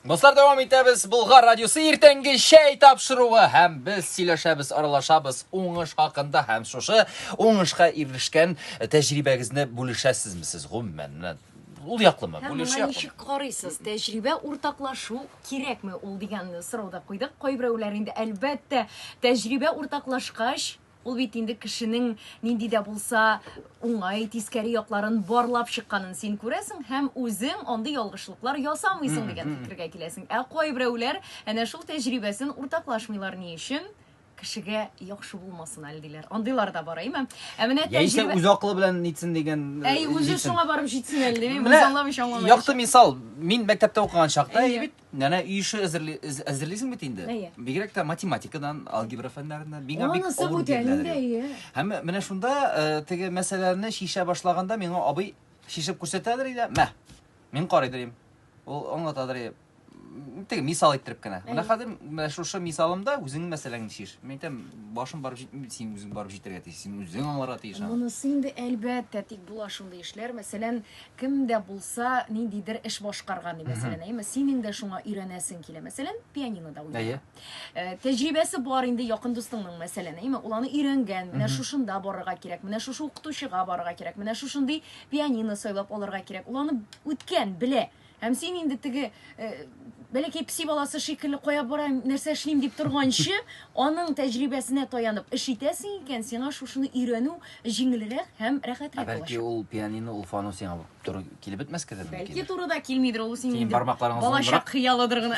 Дуслар, дәвам итәбез. Булгар радиосы иртәнге чәй тапшыруы һәм без сөйләшәбез, аралашабыз уңыш хакында һәм шушы уңышка ирешкән тәҗрибәгезне бүлешәсезме сез гомумән? Ул яклымы? Һәм Бүлешә моңа ничек карыйсыз? Тәҗрибә уртаклашу кирәкме ул дигән сорау да куйдык. Кайберәүләр инде әлбәттә тәҗрибә уртаклашкач Ул бит инде кешенең нинди дә булса уңай, тискәре якларын барлап чыкканын син күрәсең һәм үзең андый ялгышлыклар ясамыйсың дигән фикергә киләсең. Ә кайберәүләр әнә шул тәҗрибәсен уртаклашмыйлар ни өчен? кешегә яхшы булмасын әле диләр. Андыйлар да бар, әйме? Ә менә тәҗрибә... Яисә үз акылы белән нитсен дигән... Әй, үзе шуңа барып җитсен әле, дип, без аңламыйча аңламыйча. Якты мисал, мин мәктәптә укыган чакта, әйе бит, Нәнә үй эше әзерли, әз- әзерлисең бит инде. Әйе. Бигрәк тә математикадан, алгебра фәннәреннән. Миңа бик Анысы авыр бүтән биреләләр. инде, әйе. Һәм менә шунда э, теге мәсьәләне шишә башлаганда миңа абый шишеп күрсәтәдер иде. Мә. Мин карыйдыр идем. Ул аңлатадыр иде. М, Теге мисал иттереп кенә. Менә Әйе. хәзер менә шушы мисалымда үзеңнең мәсьәләңне шиш. Мин әйтәм, башым барып җитми, син үзең барып җитәргә тиеш. Син үзең аңларга тиеш. аны. Монысы инде әлбәттә, тик була шундый эшләр. Мәсәлән, Кем дә булса ниндидер эш башкарган, мәсәлән, әйеме, синең дә шуңа өйрәнәсең килә. Мәсәлән, пианинода уйнарга. Э, тәҗрибәсе бар инде якын дустыңның, мәсәлән, әйеме, ул аны өйрәнгән, менә шушында барырга кирәк, менә шушы укытучыга барырга кирәк, менә шушындый пианино сайлап алырга кирәк. Ул аны үткән, белә. Һәм син инде теге э, бәләкәй песи баласы шикелле кая барам, нәрсә эшлим дип торганчы, аның тәҗрибәсенә таянып эш итәсең икән, сиңа шушыны өйрәнү җиңелрәк һәм рәхәтрәк Ә бәлки булачак. ул пианино, ул фану сиңа туры килеп бетмәскә дә мөмкин. Бәлки турыда килмидер, ул синең Синең инде бармакларың балачак озынрак. хыялыдыр гына.